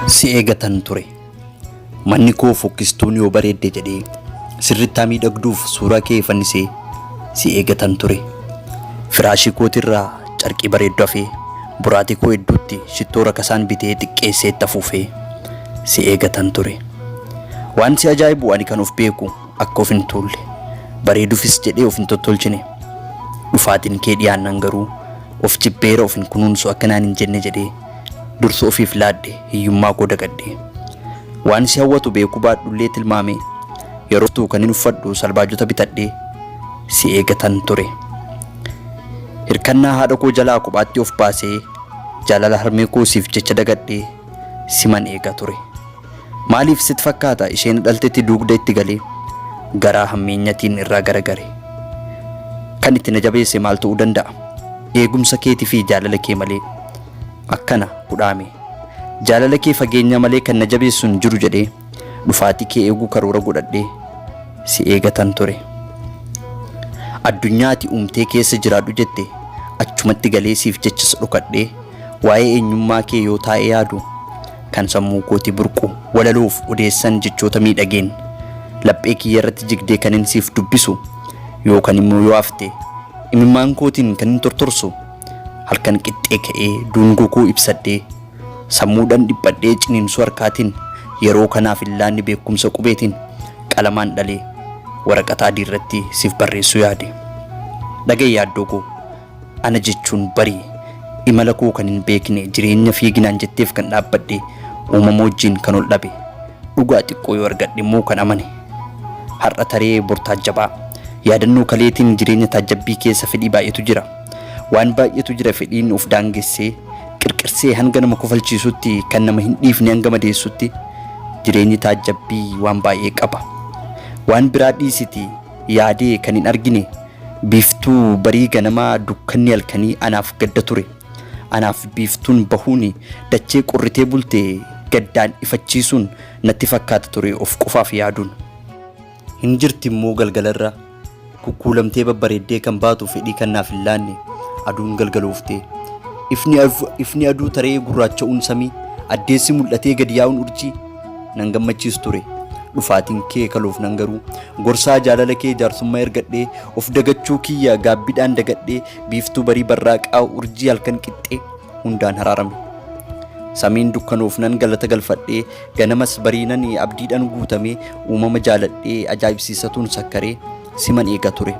si eegatan ture. Manni koo fokkistuun yoo bareedde jedhee sirrittaa miidhagduuf suuraa kee fannisee si eegatan ture. Firaashii kootirraa carqii bareeddu hafee boraatii koo hedduutti shittoo rakasaan bitee xiqqeessee itti afuufee si eegatan ture. Waan si ajaa'ibu ani kan of beeku Akka of hin tuulle, bareedufis jedhee of hin tottolchine. Dhufaatiin kee dhiyaannaan garuu, Of jibbeera of hin kunuunsu akka naan hin jenne jedhee, dursa ofiif laadhe hiyyummaa koo dagate. Waan si hawwatu beekuu baadhullee tilmaamee, yeroo dhuftu kanin uffadhu salbaajota bitadhee si eegatan ture. Hirkannaa haadha koo jalaa kophaatti of baasee, jaalala harmee koo siif jecha dagadhee siman eega ture. Maaliif sit fakkaata isheen dhaltetti duugda itti galee garaa hammeenyatiin irraa garagare. Kan itti na jabeesse maal ta'uu danda'a? Eegumsa keeti fi jaalala kee malee akkana hudhaame. Jaalala kee fageenya malee kan na jabeessu hin jiru jedhee dhufaatii kee eeguu karoora godhadhee si eegatan ture. Addunyaa ati uumtee keessa jiraadhu jette achumatti galee siif jechas dhokadhee Waa'ee eenyummaa kee yoo taa'ee yaadu kan sammuu kootii burqu walaloof odeessan jechoota miidhageen laphee kiyya irratti jigdee kanin siif dubbisu yookan immoo yoo hafte imimmaan kootiin kanin tortorsu halkan qixxee ka'ee duungoo koo ibsadhee sammuudhan dhiphadhee ciniinsuu harkaatiin yeroo kanaaf illaanni beekumsa qubeetiin qalamaan dhalee waraqata adii irratti siif barreessuu yaade. Dhaga'i yaaddoo koo. Ana jechuun bari. Imala koo kan hin beekne, jireenya fiiginaan jetteef kan dhaabbadhe, uumama wajjin kan ol dhabe, dhugaa xiqqoo yoo argadhe immoo kan amane. Har'a taree bor taajjabaa. Yaadannoo kaleetiin jireenya taajjabbii keessa fedhii baay'etu jira. Waan baay'etu jira fedhiin of daangessee, qirqirsee hanga nama kofalchiisutti, kan nama hin dhiifne hanga madeessutti jireenyi taajjabbii waan baay'ee qaba. Waan biraa dhiisitii. yaadee kan hin argine biiftuu barii ganamaa dukkanni halkanii anaaf gadda ture anaaf biiftuun bahuun dachee qorritee bulte gaddaan ifachiisuun natti fakkaata ture of qofaaf yaaduun hin jirti immoo galgalarra kukkuulamtee babbareeddee kan baatu fedhii kan naaf hin laanne aduun galgalooftee ifni, ifni aduu taree gurraacha'uun samii addeessi mul'atee gadi yaa'uun urjii nan gammachiis ture dhufaatiin kee kaluuf nan garuu gorsaa jaalala kee jaarsummaa ergadhee of dagachuu kiyya gaabbidhaan dagadhee biiftuu barii barraaqaa urjii halkan qixxee hundaan haraarame samiin dukkanuuf nan galata galfadhee ganamas bariinan abdiidhan guutamee uumama jaaladhee ajaa'ibsiisatuun sakkaree siman eega ture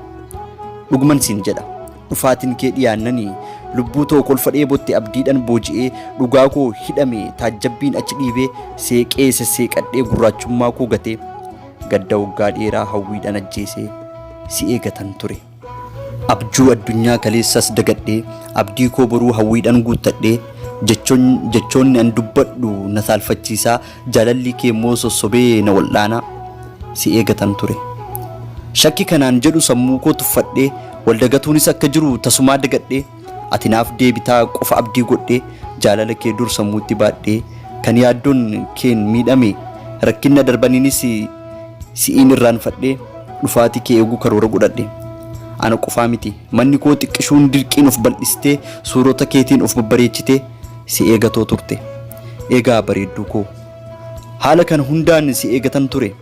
dhugman siin jedha Dhufaatin kee dhiyaannani Lubbuu too kolfa dheebotte abdiidhan booji'ee Dhugaa koo hidhame taajjabbiin achi dhiibee Seeqee sesseeqadhee gurraachummaa koo gatee Gadda waggaa dheeraa hawwiidhan ajjeesee Si eegatan ture Abjuu addunyaa kaleessas dagadhee Abdii koo boruu hawwiidhan guuttadhee Jechoonni an dubbadhu na saalfachiisaa Jaalalli kee immoo sossobee na wal'aanaa si eegatan ture. Shakki kanaan jedhu sammuu koo tuffadhee wal dagatuunis akka jiru tasumaa dagadhee ati naaf deebitaa qofa abdii godhee jaalala kee dur sammuutti baadhee kan yaaddoon keen miidhame rakkinna darbaniinis si'iin irraanfadhee dhufaati kee eeguu karoora godhadhe. Ana qofaa miti manni koo xiqqishuun dirqiin of bal'istee suurota keetiin of babbareechitee Si eegatoo turte. Egaa bareedduu koo. Haala kana hundaan si eegatan ture.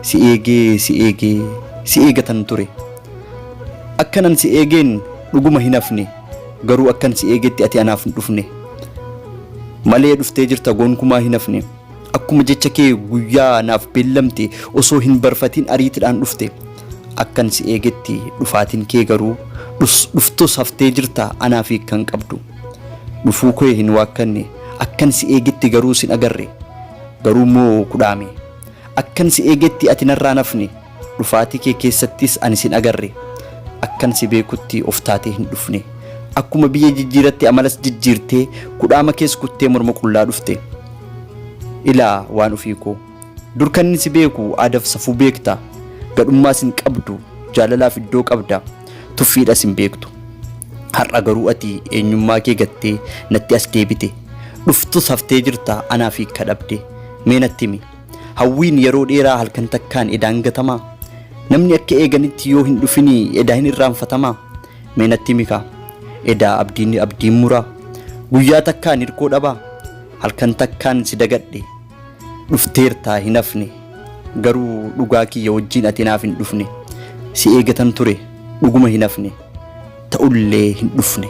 Si eegee, si eegee, si eegatan ture. Akkanan si eegeen dhuguma hin hafne. Garuu akkan si eegetti ati anaaf hin dhufne. Malee dhuftee jirta gonkumaa hin hafne. Akkuma jecha kee guyyaa naaf beellamte osoo hin barfatiin ariitidhaan dhufte. Akkan si eegetti dhufaatiin kee garuu dhus dhuftus haftee jirta anaaf hiikkan qabdu. Dhufuu kee hin waakkanne, akkan si eegetti garuu sin agarre. Garuu immoo kudhaame. Akkan si eegetti ati narraa hin hafne, dhufaatii kee keessattis ani sin agarre. Akkan si beekutti of taatee hin dhufne. Akkuma biyya jijjiiratte amalas jijjiirtee, kudhaama kees kuttee morma qullaa dhufte. Ilaa waan ofii koo. Dur kanni si beeku aadaf safuu beekta gadhummaas hin qabdu jaalalaaf iddoo qabda tuffiidhas hin beektu har'a garuu ati eenyummaa kee gattee natti as deebite dhuftus haftee jirta anaaf hiikka dhabde mee natti himi hawwiin yeroo dheeraa halkan takkaan edaan gatamaa namni akka eeganitti yoo hin dhufini edaa hin irraanfatamaa mee natti himi kaa edaa abdiin abdiin muraa guyyaa takkaan hirkoo dhabaa halkan takkaan si dagadhe dhufteertaa hin hafne garuu dhugaa kiyya wajjiin ati naaf hin dhufne si eegatan ture dhuguma hin hafne ta'ullee hin dhufne.